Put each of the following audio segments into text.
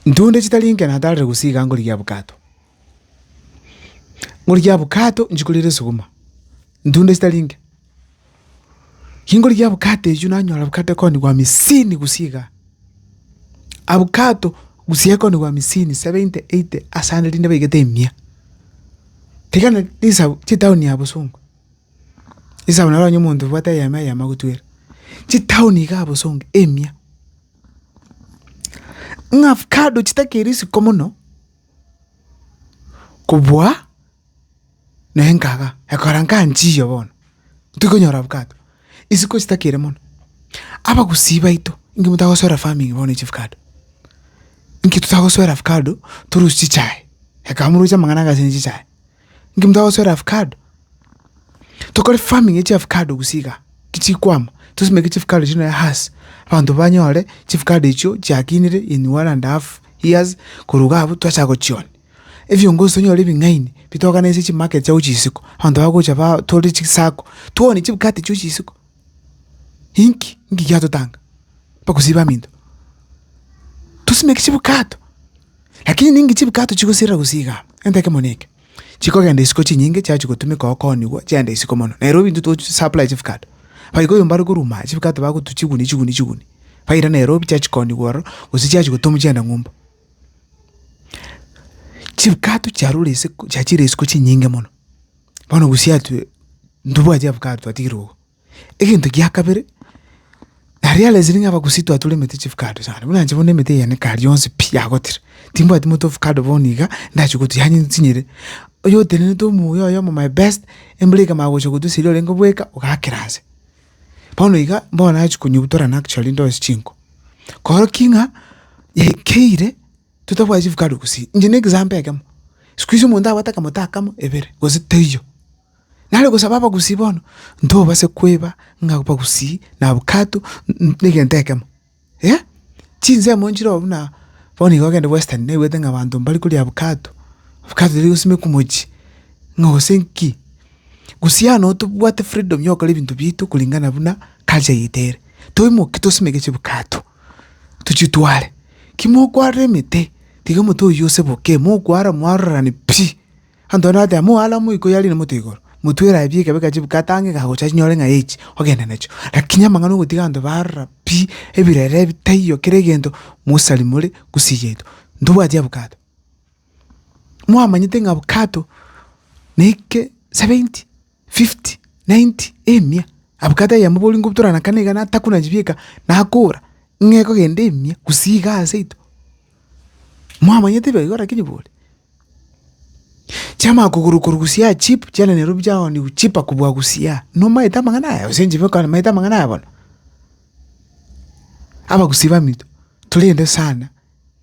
Ntunde chitari inke natarire gose iga ngorigia abokato. Ngorigia abokato inche korire esuguma, ntunde chitari inke. Kingorigia abokato echio nanyora abokato ekero nigo hamisini gose iga. Abokato gose ekero nigo hamisini, seventy, eighty ase ande rinde baigete emia. Tiga na risabu chitown ya bosongo, risabu naro onye omonto obwate eyemo eyemo agotwere, chitown iga ya bosongo emia, ng'a avocado chitakeri isiko mono kobua na enkaga, ekora nka nchiyo bono, tikonyora avocado. Isiko isitake ere mono. Abagusii baito, inki motagosoera farming bono ya chifukado? Inki totagosoera avocado torusie chichae? Ekaba morosie amang'ana anga ase ne chichae. Inki motagosoera avocado? Tokore farming ya chiavocado gusii igaa, ki chikwama, tosimeke chifukado chire nonya hass, abanto banyore chifukado echio chiakinire in one and half years, korwa iga abwo twachaka gochioni. Ebiongo nsonyore ebing'aini bitogane ase chimarket chiago chia isiko, abanto bagocha batore chisako, toganie chibwate chio chia isiko, inki inki giatotanga mpaka osibe aminto. Tosimeke chibwato, lakini ninki chibwato chigosirera gose igaa, egento ekemo na eke, chikogenda isiko chinyinge chiachi gotumeka okooniwa chiagenda isiko mono. Nairobi intwe tochi supply chibwato, abaika oyomba are korwa ime aa chibwato bagotwa chiguni chiguni chiguni, baira Nairobi chiachi kooniwa ororo gose chiachi gotomwa chiagenda ng'umba. Chibwato chiarure ase chiachire isiko chinyinge mono, bono gosiatwe ntobwati avocado twatigire igo. Egento gia kabere, na realise ng'a abagusi twatoremete chivocado sana, buna inche bono emete yane kare yonsi pi yagotire, timbwati moto ovocado bono iga ndachie gotwa yaani nsinyire. Oyotenenete omuya oyomo my best, embura ekamanya gocha gotwa eseri orenge obweka, ogakera ase. Bono iga bono nachia konyebutora actually ndoe chinko, korokia ng'a yaikeire totabwati chifukari gusii. Inche ne example ekemo, sikuizi omonto abwate akamote akamo, ebere, gose teiyo. Nare gosaba abagusii bono, ntobase kweba ng'a abagusii na avocado, n- n- negento ekemo. Eh! Chinsemo nchire oo buna, bono iga ogende western naigwete ng'a abanto mbare koria avocado, avocado eria egosimekwa mochie, ng'a gose nki. Gose yane oo tobwate freedom ya ogokora ebinto biaito kuringana buna culture yaito ere. Toimoke tosimeke chiavocado, tochitware, ki mokwarire emete, tiga omote oyio oseboke, mokwara mwarorerani pi. Antonia agateba, Moaramu iko yari na moto igoro, motwere aye pi ekabe ka chibuku atange iga agocha achinyore ng'a echi ogenda nachio. Lakini amang'ana ogotiga abanto barora pi ebirere ebi taiyo kera egento mosari more gusii yaito. Ntobwati avocado. Mwamanyete ng'a avocado neke seventy. fifty, ninety, emia, abwate eyemo boria ngoturana kane iga natakuna chibieka, nakora, ng'a ekogenda emia gusii iga aseito. Mwamanyete ebiagera lakini bori. Chiamanya kogurwa korwa gusii cheap chiana nairobi chiago ni cheaper kobua gusii aa, nomaete amang'ana aya gose inche bweka nimaete amang'ana aya bono. Abagusii baminto, torende sana.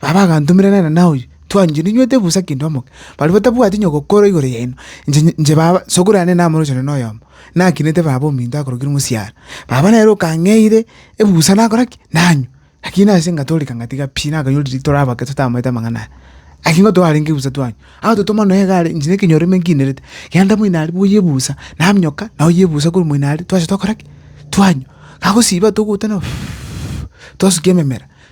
Baba agantomera nere na oyio, twanchire ninywete busa kidomo. Baria batabwati onye gokora igoro yaino, inche inche baba, sokoro yane namorochire noyomo, nakinete baba ominto akorokire mosiara. Baba nere okang'eire ebusa nakora ki? Nanywa. Lakini nase ngatoreka ngatiga pi, nakanyora riria tore abake totamanyete amang'ana aya. Lakini nigo twarenge busa twanywa. Agototoma nonya egare inche na ekenyoro rimo nkinderete, genda moino aria boyie ebusa, naminyoka, naoyia ebusa korwa moino aria, twacha tokora ki? Twanywa. Gagosiba togotana twasukia ememera.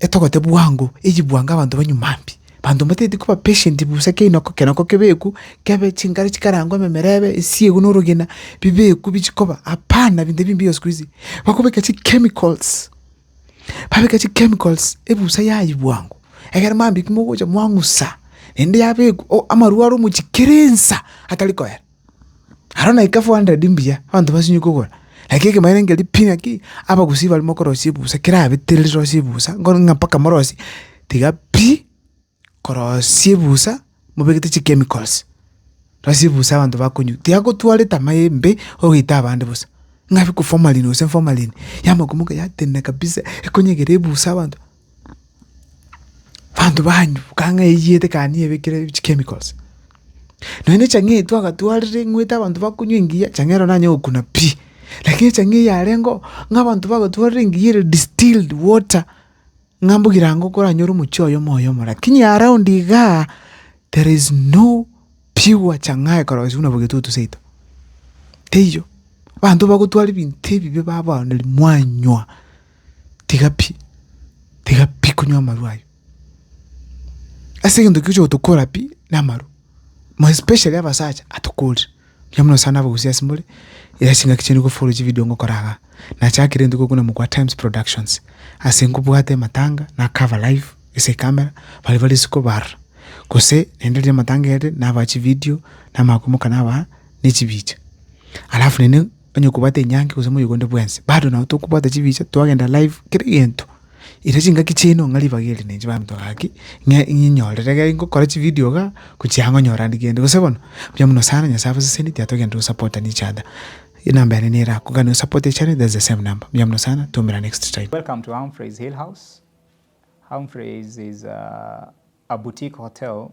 Etogote bwango, eyi bwango abanto banywe mambia. Abanto mbatagete koba patient busa ekeino keke nako kebekwe, kebe chingare chikarangwa ememerebe, esiegwe na orogena, bibekwe bichie koba, hapana binto ebimbia siku hizi. Bakobeka chichemicals, babeka chichemicals ebusa yayia bwango, egere mambia ekimo ogocha mwang'usa, naende yabekwa, o- amarwa are omochie kera ensa atari koera. Aro naika four hundred mbuya, abanto basinywe kogora, lakini ekemanyererio nkeria pi ng'aki, abagusii baria mokorosia ebusa kerabetire rirosie ebusa, nkore ng'a mpaka morosie, tiga pi, korosia ebusa mobegete chichemicals, rosia ebusa abanto bakonywa, tiga gotwara etama embe ogoita abande bosa, ng'a formalin gose formalin, yamokumoka yatenena kabisa, ekonyegera ebusa abanto. Abanto banyuka ng'a eyio etekani ebekire chichemicals, nonya na echang'aa eye twagatwarire ing'wete abanto bakonywa engiya, echang'aa ero nanye gokuna pi, lakini echang'aa eye yarengeo ng'a abanto bagatwarire engiya ere distilled water, ng'a mbugi ranga okoranyore omochie oyomo oyomo, lakini around igaa, there is no pure chang'aa ekorogoswa buna bogetutu seito, teiyo. Abanto bagotwara ebinto ebibe babaaneri mwanywa. tiga pi, tiga pi konywa amarwa ayio. Ase egento ekio oche gotokora pi na amarwa, more especially abasacha atokorire, mbuya mono sana abagusii ase more, iga ase engaki chiaino nkofollow chividio ngokora igaa. Nachakire egento ekero gokwana mokwa Times Productions, ase nkobwate amatanga na cover live ase ecamera, baria bare isiko barora, gose naende riria amatanga aire nabaa chividio, namanya koimoka nabaa na echibicha. Alafu naende. onye kobwate enyangi gose moyegonde bwensi bado nabo tokobwata chibicha twagenda live kera egento erio chingaki chiaino ng'a ribaga eri nainche baminto gaki ng'a ng'inyorere ekero ngokora chividio igaa gochia ang'e onyore aria kende gose bono mbuya mono sana Nyasae abasesenie tiga togenderera gosapotana each other enamba yane nere ako gaki nosapote echannel that's the same number mbuya mono sana twomera next time. Welcome to Humphrey's Hill House. Humphrey's is a boutique hotel.